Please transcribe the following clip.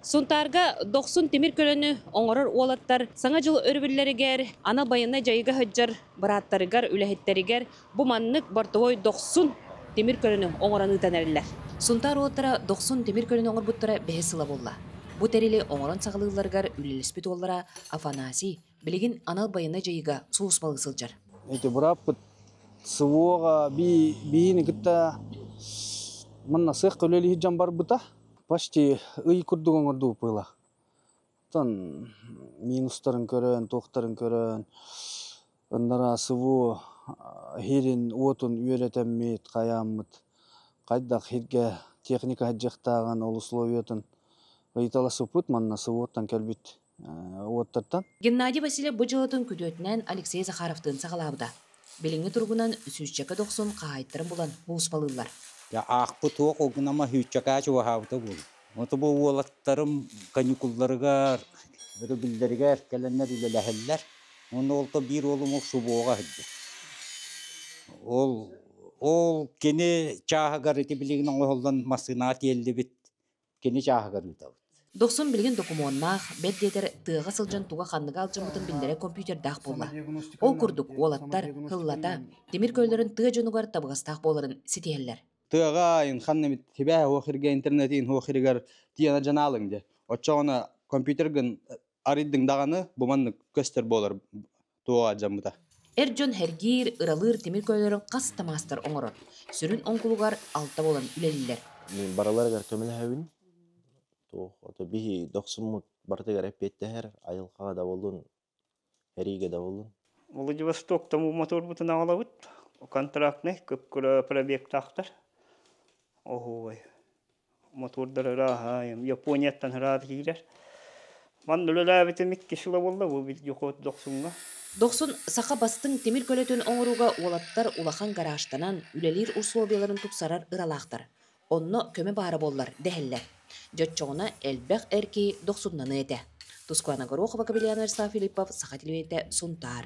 Сунтаарга дохсун тимир көлөнү оҥорор уолаттар Саҥа дьыл өрөбүллэригэр анал байыаннай дьайыыга сылдьар бырааттарыгар, үлэһиттэригэр бу маннык бортовой дохсун тимир көлөнү оҥорон ыытан эрэллэр. Сунтаар уолаттара дохсун тимир көлөнү оҥорбуттара бэһис сыла буолла. Бу тэрили оҥорон саҕалыылларыгар үлэлэспит уоллара Афанасий Билигин анал байыаннай дьайыыга сулууспалыы сылдьар. Ити бырааппыт СВО-га биини кытта манна сыах көлөлиһи жан барбыта почти ый курдук оңордуу пыла. Тан минустарын көрөн, туохтарын көрөн, ыннара СВО хирин уотун үөрэтэммит, каяммыт, хайдах хирге техника хаджахтаган ол условиятын ыйталасыпыт манна СВО-тан кэлбит. уоттартан Геннадий Васильев бу дьыалатын күтүөтүнэн Алексей Захаровтыын саҕалаабыта. Билиҥҥи туругунан сүүсчэкэ дохсун хаһаайыттарын булан булууспалыыллар. Аахпыт уох гынама сүүсчэкээ чугаһаабыта буолуо. Ону бу уолаттарым каникулларыгар, өрөбүллэригэр кэлэннэр үлэлэһэллэр. Уонна уолга биир уолум ол субуоҕа сылдьар. Ол ол кини чааһыгар ити билигин оҥоһуллан массыынаҕа тиэллибит. кини чааһыгар ыытабыт. Дохсун билигин докумуоннаах, бэрт диэтэр тыаҕа сылдьан туга ханныга алдьаммытын биллэрэр компьютердаах буолла. Ол курдук уолаттар, кыллата, тимир көллөрүн тыа дьонугар табыгастаах буоларын ситиһэллэр. Тыаҕа айын ханна эмит тибээ уох иргэ интернетин уох иригэр тиана жанаалыҥ же. Оччо оны компьютергын арыйдыҥ даҕаны буманнык көстөр буолар туох алдьаммыта. Эр дьон сэргиир, ыралыыр тимир көлөлөрү хас да маастар оҥорор. Сүрүн оҥкулугар алта буолан үлэлииллэр. Мин барыларыгар көмөлөһөбүн. Туох ото биһи дохсуммут барытыгар эппиэттэһэр, айылҕаҕа дабыллын, эриигэ дабыллын. Владивостоктан бу моторбутун аҕалабыт. Контрактнай, кып-кыра пробегтаахтар. Оһуобай. мотуордар ырааһаайым Японияттан ыраата киирэр. Манна үлэлээбитим иккис ыла буолла бу дохуот дохсуҥҥа. Дохсун саха бастыҥ тимир көлөтүн оҥорууга уолаттар улахан гаражтанан үлэлиир усулуобуйаларын тупсарар ыралаахтар. Онно көмө баара буоллар дэһэллэр. Дьэ оччоҕуна элбэх эр киһи дохсуннаныа этэ. Тускуана Горохова, Кобелян Эрса Филиппов, Саха телевидения, Сунтаар.